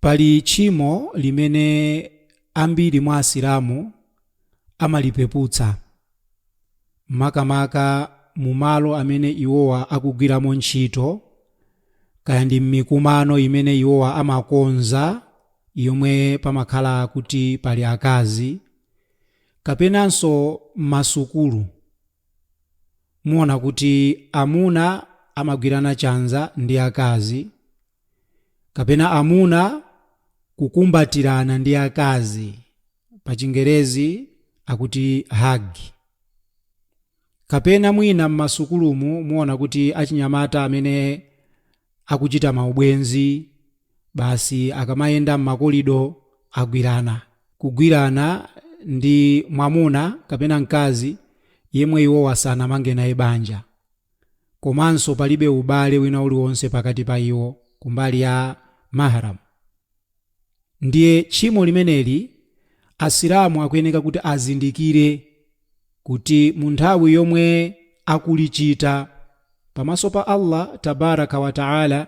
Pali tchimo limene ambiri mwa Asilamu amalipeputsa, makamaka mu malo amene iwowa akugwiramo ntchito, kaya ndi mmikumano imene iwowa amakonza yomwe pamakhala kuti pali akazi, kapenanso mmasukulu muona kuti amuna amagwirana chanza ndi akazi. kapena amuna kukumbatirana ndi akazi pa chingerezi akuti hug kapena mwina m'masukulumu muona kuti achinyamata amene akuchita maubwenzi basi akamayenda m'makolido agwirana kugwirana ndi mwamuna kapena mkazi yemwe iwowa sanamange naye banja komanso palibe ubale wina uliwonse pakati pa iwo kumbali ya Mahram. Ndiye tchimo limeneli Asilamu akuyeneka kuti azindikire kuti munthawi yomwe akulichita pamaso pa Allah Tabaaraka wa Ta'ala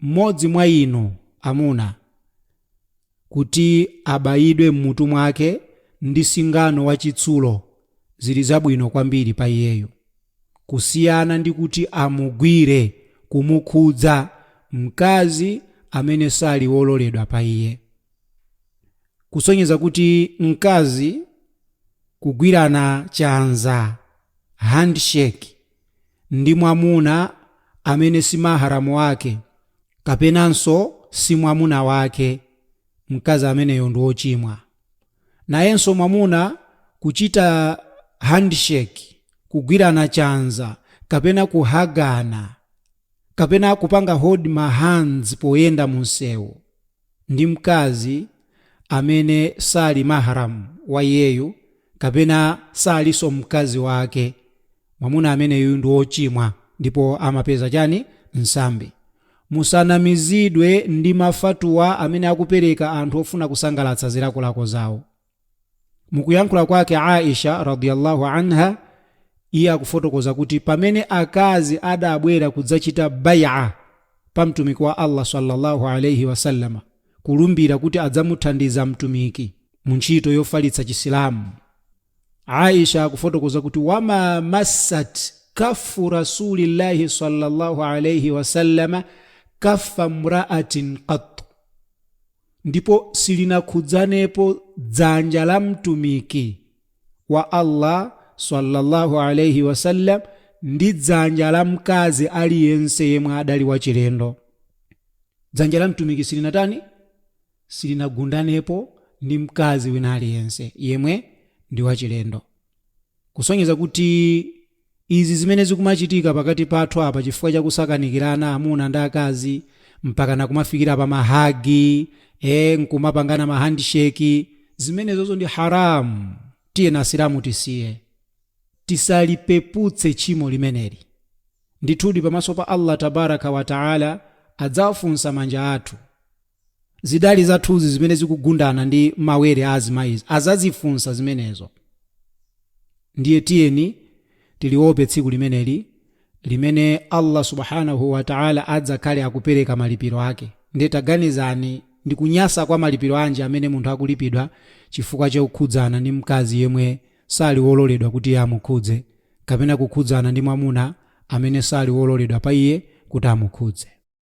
mmodzi mwa inu amuna, kuti abayidwe mmutu mwake ndi singano wa chitsulo, ziri zabwino kwambiri pa iyeyo, kusiyana ndi kuti amugwire, kumukhudza, mkazi amene sali wololedwa pa iye. Kusonyeza kuti mkazi kugwirana chanza, handshake. ndi mwamuna amene si mahram wake kapenanso si mwamuna wake, mkazi ameneyo ndi wochimwa. Nayenso mwamuna kuchita handshake, kugwirana chanza kapena kuhagana kapena kupanga hold ma hands poyenda munsewu. ndi mkazi amene sali mahram wa iyeyu kapena salinso mkazi wake, mwamuna ameneyu ndi wochimwa ndipo amapeza chani? Nsambi. Musanamizidwe ndi ma fatwa amene akupereka anthu ofuna kusangalatsa zilakolako zawo. mukuyankhula kwake aisha radiyallahu anha iye akufotokoza kuti pamene akazi adabwera kudzachita bai'a pa mtumiki wa allah sallallahu alaihi wasallama kulumbira kuti adzamuthandiza mtumiki mu ntchito yofalitsa chisilamu aisha akufotokoza kuti wama massat kaffu rasulillahi sallallahu alaihi wasallama kaffa mraatin qatt ndipo silinakhudzanepo dzanja la Mtumiki, wa Allah swalla Allahu alaih wasallam ndi dzanja la mkazi aliyense yemwe adali wachilendo. Dzanja la Mtumiki silinatani? Silinagundanepo ndi mkazi wina aliyense yemwe ndi wachilendo. kusonyeza kuti izi zimene zikumachitika pakati pathu apa chifukwa cha kusakanikirana amuna ndi akazi mpakana kumafikira pa mahagi e nkumapangana mahandsheki zimenezozo ndi haramu tiyeni asilamu tisiye tisalipeputse tchimo limeneli ndithudi pamaso pa allah tabaraka wataala adzawafunsa manja athu Zidali zathuzi zimene zikugundana ndi mawere a azimayizo adzazifunsa zimenezo. Ndiye tiyeni tiliope tsiku limeneli limene Allah Subhaanahu wa Ta'ala adzakhale akupereka malipiro ake. Ndiye taganizani ndi kunyasa kwa malipiro anji amene munthu akulipidwa chifukwa cha kukhudzana ndi mkazi yemwe sali wololedwa kuti iye amukhudze kapena kukhudzana ndi mwamuna amene sali wololedwa pa iye kuti amukhudze.